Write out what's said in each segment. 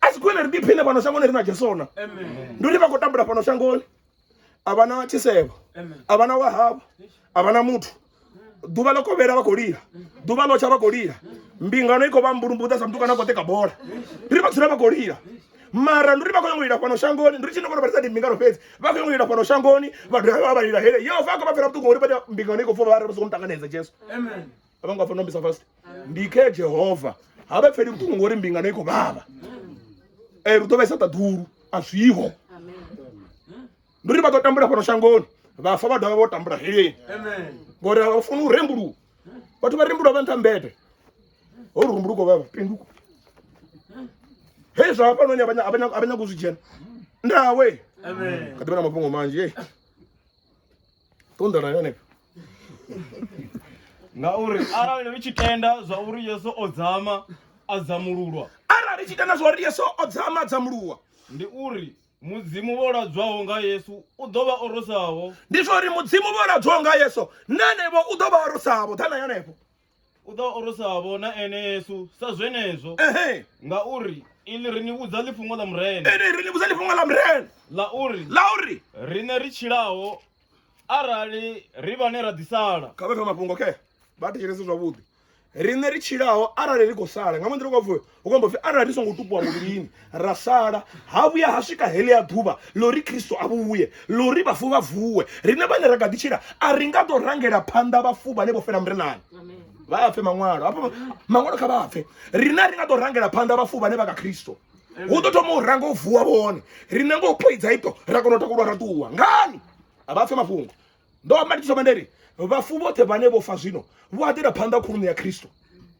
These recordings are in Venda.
a si khwine ri ḓiphine fhano shangoni ri na jesona ndi uri vha khou tambula fhano shangoni a vha na tshisevho a vha na wahavho a vha na muthu ḓuvha ḽo kovhela vha khou lila ḓuvha ḽo tsha vha khou lila mbingano i khou vha mbulumbuḓa sa mutukana a khou ṱeka bola ri vha dzula vha khou lila mara ndi uri vha khou nyanga u lila fhano shangoni ndi ri tshine kona vhalisa ndi mbingano fhedzi vha khou nyanga u lila fhano shangoni vha dovha vha vha lila hele yehova a khou vha fhela vhuṱungu ngori vha mbingano i khou pfha vha re vha songo muṱanganedza jesu a vho ngo fanela u mbisa fast ndi khe jehova ha vha pfeli vhuṱungu ngori mbingano i khou vhavha um lu ḓo vhaisa ṱaḓulu a zwiho ndi uri vha ḓo tambula fhano shangoni vhafa vha dovha vho tambula heleni ngori a vha funi u rembuluwa vhathu vha rembuluwa vha nṱha mbete ho ri rumbuluko vha pinduko hezwi hafhanoni a vha nyago u zwi dzhena ndawe kha ḓivha na mafhungo manzhi ṱunḓa na yone ngauri arali ri tshi tenda zwa uri yesu o dzama a dzamululwa arali ri tshi tenda zwa uri yesu o dzama a dzamululwa ndi uri mudzimu vho ladzwaho nga yesu u ḓo vha orosaho ndi zwa uri mudzimu vho ladzwaho nga yesu na henevho u ḓo vha orosaho ḓa na yonevho u ḓo orosavho na ene yesu sa zwenezwo ehe ngauri ili ri ni vhudza ḽifhungo ḽa murena ene ri ni vhudza ḽifhungo ḽa murena ḽa uri ḽa uri riṋe ri tshilaho arali ri vhane ra ḓisala kha vhe kha mafhungo khe vha thetshelese zwavhuḓi riṋe ri tshilaho arali ri khou sala nga mannḓa ri khou pfhi hu khou amba upfi arali ri songo tupuwa muvhilini ra sala ha vhuya ha swika heḽia ḓuvha ḽo ri khristo a vhuye ḽo ri vhafu vha vuwe riṋe vhane ra kha ḓi tshila a ri nga ḓo rangela phanḓa vhafu vhane vho fela murenani vha a pfe maṅwalo hafho maṅwalo kha vha a pfe riṋe a ri nga ḓo rangela phanḓa vhafu vhane vha kha khristo hu ḓo thoma u ranga u vuwa vhone riṋe ngo u poidza ito ra kona u takulwa ra ṱuwa ngani a vha pfe mafhungo ndo amba ndi thoma nda ri vhafu vhoṱhe vhane vho fa zwino vho aḓela phanḓa khuluṋu ya khristo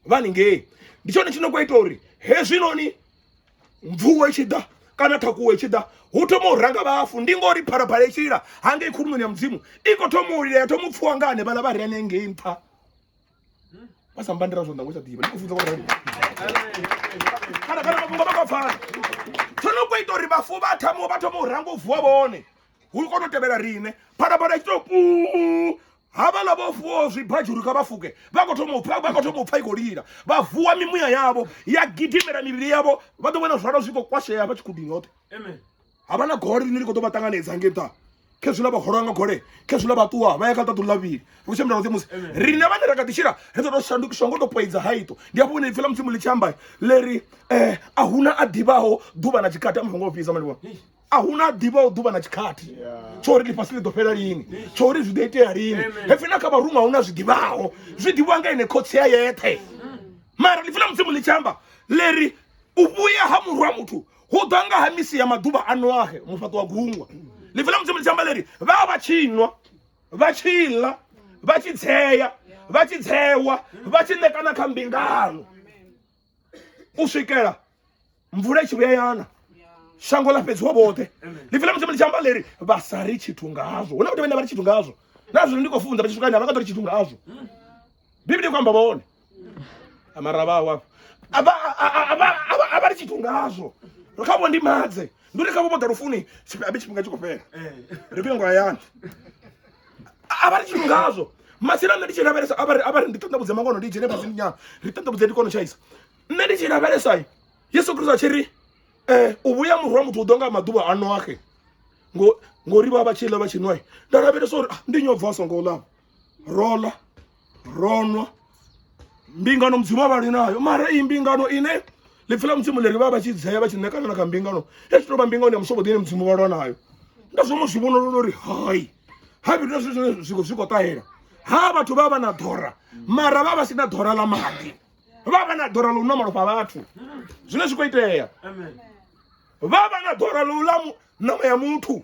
vha ningei ndi tshone tshino khou ita uri hezwinoni mvuwo i tshi ḓa kana thakuwo i tshi ḓa hu thoma u ranga vhafu ndi ngori phalaphala i tshi lila hangei khuluṋoni ya mudzimu i khou thoma u lila ya thoma u pfhiwa nga hanevhaḽa vha re anengei nṱha basambandira zwo nda ngo tsha ḓivha ndi khou funza vhorali kana kana mafhungo vha nga pfana tsho no kho ita uri vhafu vha thamo vha thoma u ranga u vuwa vhone hu kono tevhela rine phalaphala tshi to pu havhala vho fuwo zwibadzhuru kha vha fuke vha khou thoma u pfa vha khou thoma u pfa i khou lila vha vuwa mimuya yavho ya gidimela mivhili yavho vha ḓo vhona zwala zwi khou kwashea vha tshi khudini hoṱhe amen ha vha na gole ḽine ḽi khou ḓo vha ṱanganedza hangei nṱha khezwiḽa vha holwa nga gole khezwiḽa vha ṱuwa vha ya kha ṱaḓu ḽavhili ri khou tshimbila roṱhe musi riṋe vhane ra kha ḓi tshila ri ḓo tou shandukiswa ngo tou poidza haito ndi hafho hune ipfi ḽa mudzimu ḽi tshi amba ḽe ri um a huna a ḓivhaho ḓuvha na tshikati amuthu ngo fhisa mani vhona a hu na ḓivha u ḓuvha na tshikhathi tsho uri ḽifhasi ḽi ḓo fhela lini tsho uri zwi ḓo itea lini hepfi na kha vharuṅwa hu na zwi ḓivhaho zwi ḓivhiwa nga ine khotsi ya yeṱhe mara ḽipfi ḽa mudzimu ḽi tshi amba ḽi ri u vhuya ha murwa muthu hu ḓa nga ha misi ya maḓuvha a noahe mufhaṱo wa gungwa ḽipfi ḽa mudzimu ḽi tshi amba ḽiri vha vha tshi nwa vha tshi ḽa vha tshi dzea vha tshi dzewa vha tshi ṋekana kha mbingano u swikela mvula i tshi vhuya yana shango ḽa fhedziwa vhoṱhe ḽipfi ḽa mudzimu ḽi tshi amba ḽiri vha sa ri tshithu ngazwo huna vhathu vhane vha ri tshithu ngazwo na zwino ndi khou funza vha tshi swika ni a vha nga ḓo ri tshithu ngazwo biblia i khou amba vhone mara vha wa a vha a vha a vha tshi tungazwo ri kha vho ndi madze ndi ri kha vho vho ḓa lufuni tshipembe tshifhinga tshi khou fhela eh. ri vhuye ngo hayani a vha tshi tungazwo masina nṋe ndi tshi lavhelesa a vha ri a vha ri ndi ṱoḓa vhudze mangono ndi dzhene fhasi nyana ri ṱoḓa vhudze ndi kono tshaisa nṋe ndi tshi lavhelesa yesu kristo a tshi ri um u vhuya muru wa muthu u ḓo nga maḓuvha a noaxe ngori vha vha tshi ḽa vha tshi nwa nda lavhelesa uri ah, ndi nyobva a songo ḽa rola ro nwa mbingano mudzimu a vhali nayo mara iyi mbingano ine ḽipfi ḽa mudzimu ḽi ri vha vha tshi dzea vha tshi ṋekana na kha mbingano ya tshi tou vha mbingano ya mushogoḓi ine mudzimu vhalwa nayo nda zwo mu zwi vhonolola uri hai ha vhithu zwi zwine zwi zwi khou ṱahela ha vhathu vha vha na ḓora mara vha vha si na ḓora ḽa maḓi vha vha na ḓora ḽa u nwa malofha vhathu zwine zwi khou itea vha vha na ḓora ḽa u ḽa ṋama ya muthu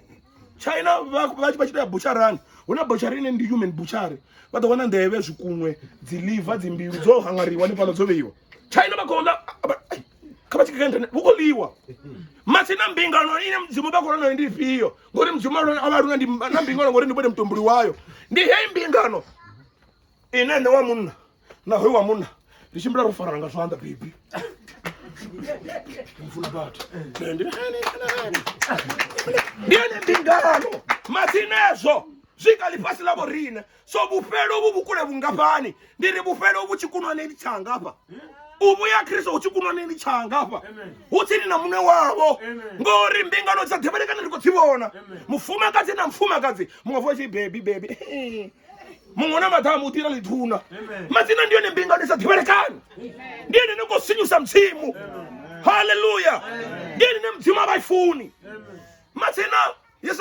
china vha tshi ita ya butsharani hu na butshari ine ndi human butshari vha ḓo wana nḓevhe zwikunwe dzi liver dzi mbilu dzo hangariwa ni fhaḽa dzo vheiwa china vha khou ḽa kha vha tshi kha internet vhu khou ḽiwa masina mbingano ine mudzimu vha khou lwa nayo ndi ifhio ngori mudzimu a vha luna na mbingano ngori ndi vhone mutumbuli wayo ndi heyi mbingano ine nṋe wa munna na hoyo wa munna ri tshimbila ro farana nga zwanḓa bebi mfuna vhathu ndi ene mbingano masinezwo zwi kha ḽifhasi ḽa vhorine so vhufhelo vhu vhukule vhungafhani ndi ri vhufhelo vhu tshi kunwaneni tshanga hafha u vhuya khristo hu tshi kunwaneni tshanga hafha hu tsini na muṋe wavho ngori mbingano dza ḓivhelekana ndi khou dzi vhona mufumakadzi na mufumakadzi muṅwe vho tshi bebi bebi muṅwe na maḓamu u ḓira ḽithuna madzina ndi yone mbingano i sa ḓivhelekani ndi yone ni khou sinyusa mudzimu halleluya ndi yone ne mudzimu a vha i funi madzina